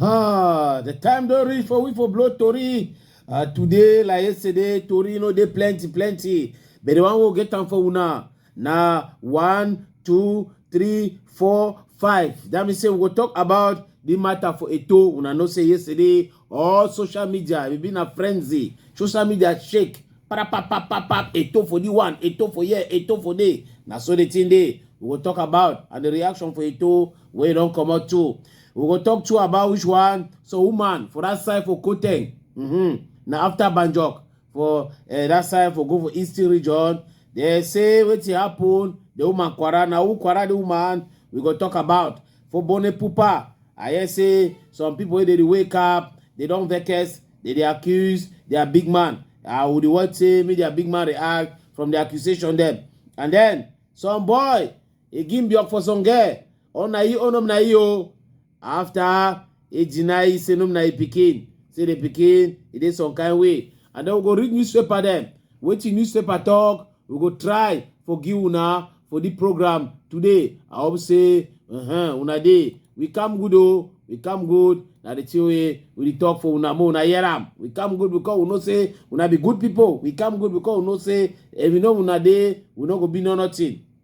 Ah, the time don't reach for we for blow Tori. Uh, today, like yesterday, Tori, you know, they plenty, plenty. But the one will get time for una. Now, one, two, three, four, five. That means say we will talk about the matter for Eto. Una know say yesterday, all social media we be na frenzy social media shake parapapapapap eto for the one eto for here eto for there na so the thing dey we go talk about and the reaction for eto wey don comot too we go talk too about which one so woman for that side for koteng mm -hmm. na after banjok for eh, that side for go for eastern region they say wetin happen the woman kwara na who kwara the woman we go talk about for bone pupa i hear say some people wey dey dey wake up they don vex they dey accuse their big man i would want say make their big man react from the accusation dem and then some boy e gi mbiọk for songe ọ na i onom na i o after e deny say nom na e pikin say the pikin e dey some kind way and then we go read newspaper dem wetin newspaper talk we go try for give una for the program today i hope say uh-huh, una dey we come good o we come good na the thing wey we dey talk for una make una hear am we come good because we know say una be good people we come good because we know say if we know una dey we no go be no nothing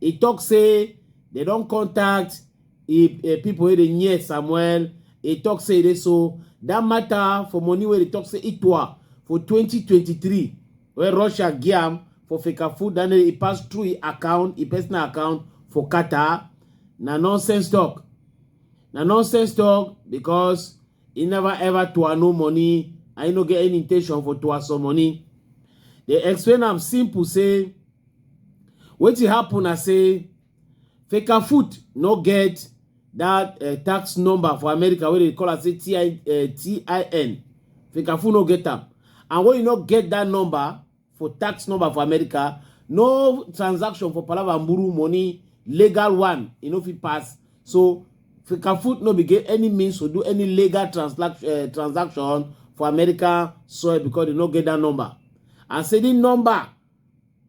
He talk say they don contact e, e people wey dey near Samuel. He talk say they so that matter for money where they talk say it was for 2023 where Russia giam for Fika food then he passed through his account, his personal account for Qatar. Na nonsense talk. Na nonsense talk because he never ever to no money. I no get any intention for to some money. They explain am simple say Wetin happen na say Fecafoot no get that uh, tax number for America wey dey call am say TI, uh, eh, TIN. Fecafoot no get am. And when you no get that number for tax number for America, no transaction for Palava Mburu money, legal one, you know, if it pass. So Fecafoot no be get any means to do any legal transaction uh, transaction for American soil because they no get that number. And say the number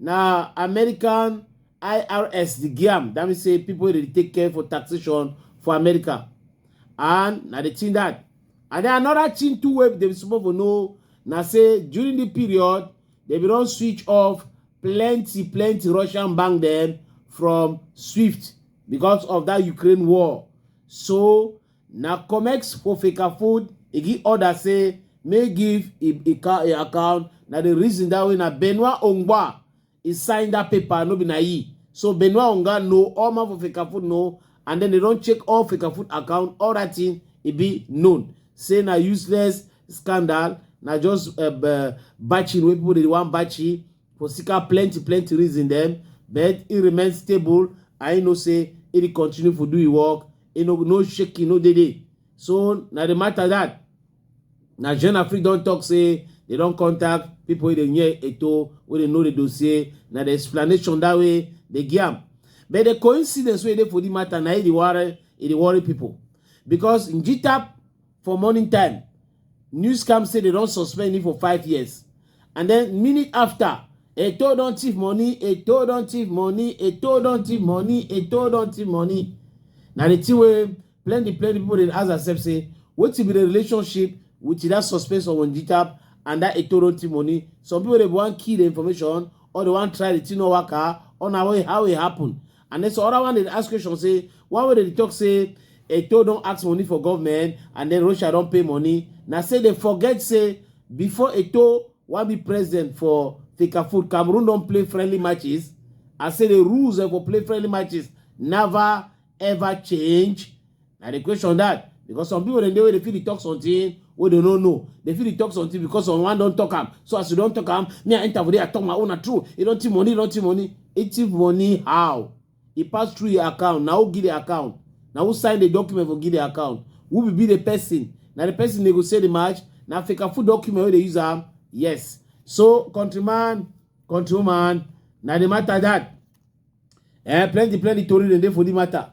na american irs dey give am that mean say people dey take care for taxation for america and na the thing that and then another thing too wey dem suppose for know na say during the period dem bin don switch off plenty plenty russian bank dem from swift because of that ukraine war so Na Comex for Fecafoot e give order say make give e e ca- e account na the reason that way na Benoit Ongba e sign that paper no be na e so Benoit Onga know all man for Fecafoot know and then they don check all Fecafoot account all that thing e be known say na useless scandal na just uh, batching wey people dey wan batchy Fosika plenty plenty reason dem but e remain stable and e know say e dey continue for do e work, e no no shaking no dey dey. So na the matter that na Jeune Afrique don talk say they don contact people wey dey near Eto wey dey know the dossier na the explanation that way dey give am. But the coincidence wey dey for the matter na e dey worry e dey worry people because Njitap for morning time News come say they don suspend him for five years. And then minute after, Eto don thief money, Eto don thief money, Eto don thief money, Eto don thief money. Now the thing where plenty plenty people dey ask themselves say, what be the relationship with that suspense of Onjitap and that Eto don thief money? Some people they want key the information or they want try the thing no work or now how it happen. And then so other one dey ask question say why would they talk say Eto don't ask money for government and then Russia don't pay money. Now say they forget say before Eto wan be president for Fecafoot, Cameroon don't play friendly matches. I say the rules eh, for play friendly matches never ever change. na the question that because some people dem dey wey dey fit dey talk something wey dem no know dem fit dey talk something because someone don talk am so as you don talk am me i enter for there i talk my own na true e don thief money e don thief money e thief money how e pass through your account na who give the account na who sign the document for give the account who be be the person na the person dey go say the match na africa food document wey dey use am yes so countryman countrywoman na the matter that eh plenty plenty tori dem dey for the matter.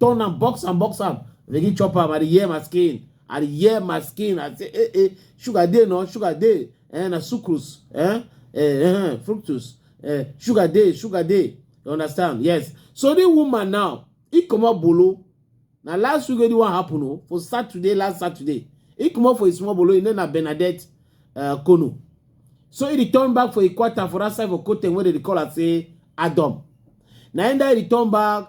turn am box am box am begin chop am i dey hear my skin i dey hear my skin i say eh eh sugar dey no sugar dey eh na sucrose eh eh eh fructose eh sugar dey sugar dey you understand yes so the woman now he comot bolo na last week wey the one happen o for saturday last saturday he comot for his small bolo him name na bernadette uh, kono so he return back for ikwata for that side for kotem wey dem dey call am say adom na him die return back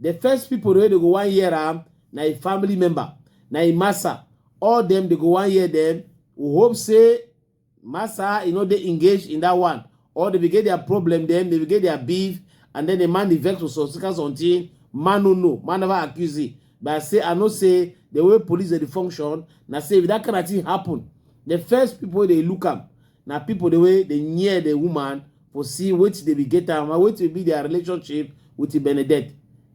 The first people wey dey go one year am na a family member, na a massa. All them dey go one year them. We hope say massa you know they engage in that one. Or they will get their problem them, they will get their beef, and then the man the vex for some second something. Man no know, man never accuse it. But I say I know say the way police dey dey function, na say if that kind of thing happen, the first people wey dey look am na people the way they near the woman for see wetin dey be get am and wetin be their relationship with Benedette.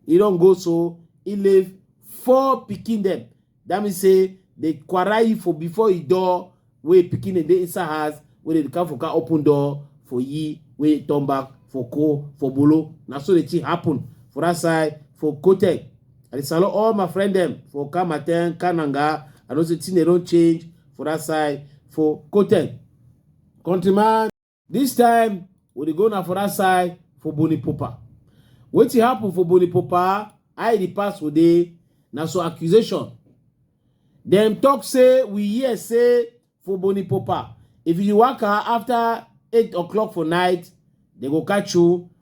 E don go so e leave four pikin dem. That means say the kwarai for before e door wey pikin dem dey inside house wey dey come for car open door for ye wey turn back for ko for bolo. Na so the thing happen for that side for Kotek. I dey salute all my friend dem for Kamaten, Kananga. I know say thing dey don change for that side for Kotek. Countryman. This time, we dey go na for that side for Boni Popa. Wetin happen for Boni Popa, I the past for dey, na so accusation. Dem talk say we hear say for Boni Popa, if you waka after eight o'clock for night, they go catch you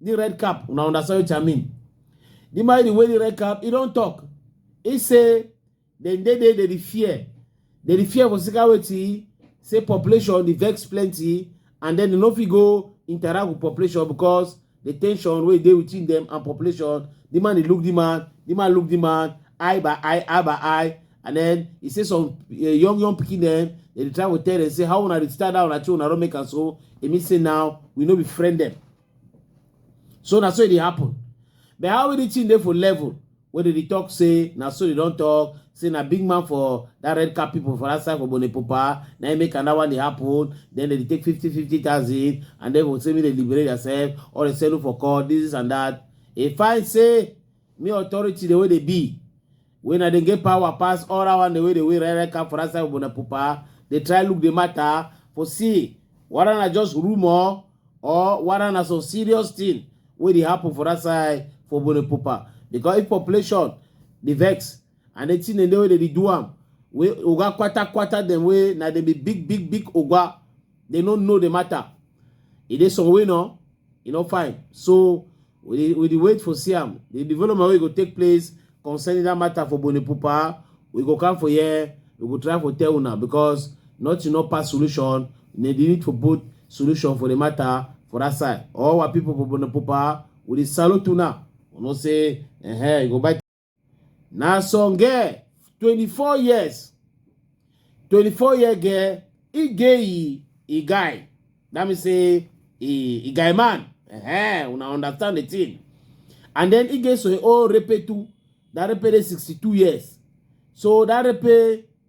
the red cap una understand wetin i mean the man the way the red cap he don talk he say dem dey dey dey fear dey dey fear for sika wetin say population dey vex plenty and then dem no fit go interact with population because the tension wey dey within them and population the man dey look the man the man look the man eye by eye eye by eye and then he say some uh, young young pikin dem dey try to tell dem say how una dey start that una thing una don make am so e mean say now we no be friend dem so na so e dey happen but how e dey thing dey for level wey dey dey talk say na so dey don talk say na big man for that red cap people for that side for bonepopa na im make another one dey happen then they dey take fifty fifty thousand and then go say make they liberate themselves or they settle for court this and that e find say Me authority the way they be. When I didn't get power pass all around the way the way right come for us when pupa. They try look the matter for see whether na just rumor or whether na some serious thing wey dey happen for that side for Bone Pupa. Because if population dey vex and the thing dem dey wey dey dey do am wey oga kwata kwata dem wey na dem be big big big oga they no know the matter. E dey some way no, e no fine. So We dey, we dey wait for see am. The development wey go take place concerning that matter for Bonipupa, we go come for here, we go try for tell una because nothing no pass solution. They dey need for both solution for the matter for that side. All our people for Bonipupa, we dey salute una. We know say, eh, you go buy na some girl twenty-four years twenty-four year girl e gay e e guy that mean say e e guy man uh-huh, una understand the thing and then e gay so e old repe too that repe dey sixty-two years so that repe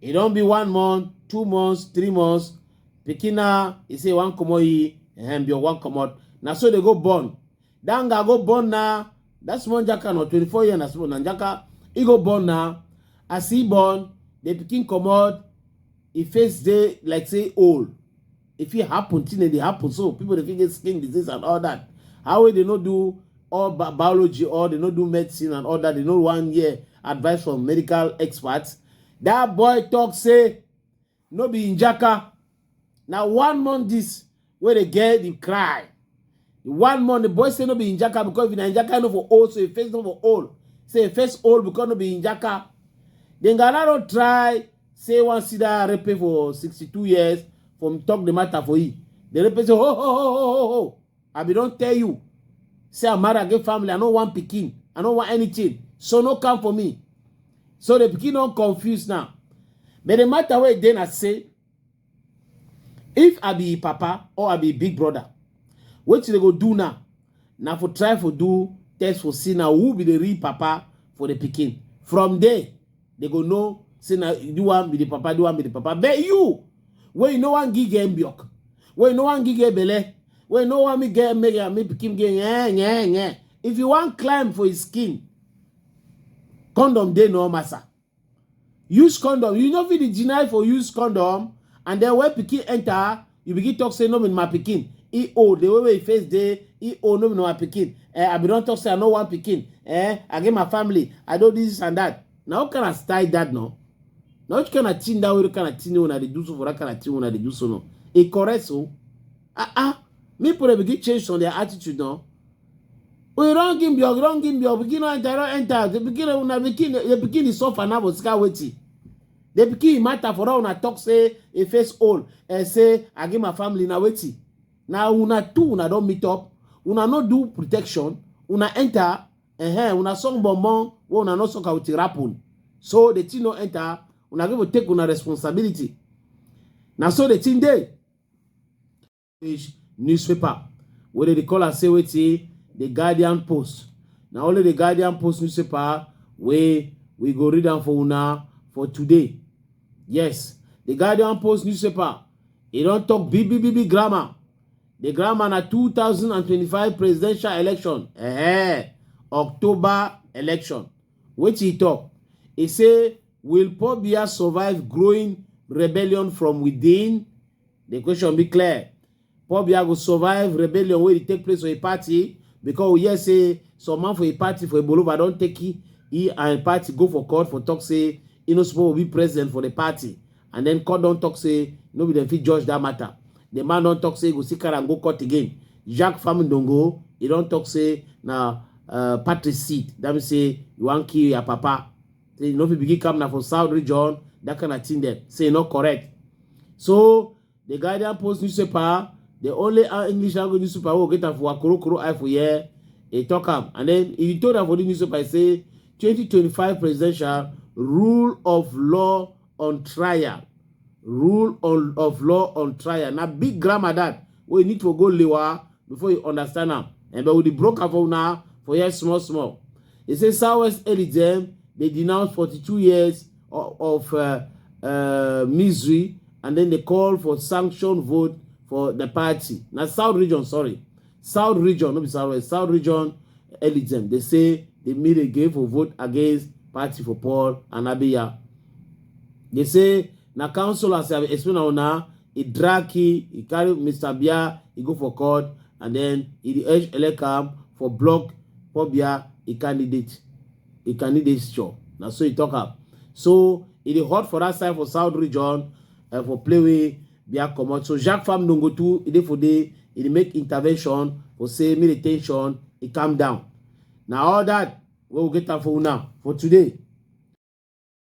e don be one month two months three months pikin na e say e wan comot e ehem bio wan comot na so dey go born that guy go born na that small jaka na twenty four year na small na jaka e go born na as e born the pikin comot e face dey like say old e fit happen thing dey happen so people dey fit get skin disease and all that how wey dey no do all bi biology or dey no do medicine and all that dey no wan hear advice from medical experts that boy talk say no be njaka na one month this wey dey get the cry One month, the boy say no be Injaka because if na Injaka no for old, so he face no for old. Say he face old because no be Injaka. Then Ganaro try say one see that rape for 62 years from talk the matter for him. The rape say, ho, ho, ho, ho, ho, ho. I be don't tell you. Say I'm married, I get family, I no want pikin, I no want anything. So no come for me. So the pikin don't confuse now. But the matter where then I say, if i be papa or i be big brother wetin they go do now na for try for do test for see now who be the real papa for the pikin from there they go know say na the one be the papa the one be the papa but you wey you no wan give get mbiok wey you no wan give get belle wey you no wan me get make am make pikin get yeah yeah yeah if you wan climb for his skin condom dey no massa use condom you no fit dey deny for use condom and then when pikin enter you begin talk say no be my pikin e old the way wey e face dey e old no be my pikin eh i bin don talk say i no want pikin eh i get my family i do this and that na what kind of style that no na which kind of thing that wey kind of thing wey una dey do so for that kind of thing wey una dey do so no e correct so ah ah make people dey begin change some their attitude no we run give your we run give your pikin no enter no enter the pikin una pikin the pikin dey suffer now but sika wetin the pikin matter for all una talk say e face old and say i give my family na wetin na una two una don meet up una no do protection una enter uh-huh, una song bonbon wey una no suck out the rapun so the thing no enter una go take una responsibility na so the thing dey English newspaper wey dem dey call am say wetin the Guardian Post. Na only the Guardian Post newspaper wey we go read am for una for today. Yes, the Guardian Post newspaper e don talk big big big big grammar. The grammar na 2025 presidential election, eh, October election. Wetin e talk? E say, will Paul Biya survive growing rebellion from within? The question be clear. Paul Biya go survive rebellion wey dey take place for a party because we hear say some man for a party for Ibolova don take he, he and a party go for court for talk say he no suppose be president for the party and then court don talk say no be dem fit judge that matter. The man don talk say he go still carry am go court again. Jacques Famindongo he don talk say na uh, party seat that mean say you wan kill your papa. say you no fit begin camp na for south region that kind of thing dem say e no correct so the guardian post newspaper the only uh, english language newspaper wey get am for akorokoro eye for here e talk am and then e told am for the newspaper e say 2025 presidential rule of law on trial rule on, of law on trial na big grammar that wey you need to go lewa before you understand am and but with the broker for una for here small small e say southwest elidem dey denounce 42 years of, of uh, uh, misery and then they call for sanction vote for the party na south region sorry South region, no be South West, South region elitem, they say they made a game for vote against party for Paul and Abiya. They say na council as I explain now now, he drag he, he carry Mr. Bia, he go for court, and then he the edge elecam for block Paul Bia, he candidate, he candidate show. Now so he talk up. So it is hot for that side for South region and uh, for play with bia comot so jacques fam nongo too e dey for dey e dey make intervention for say make the ten sion e calm down na all that wey we get am for una for today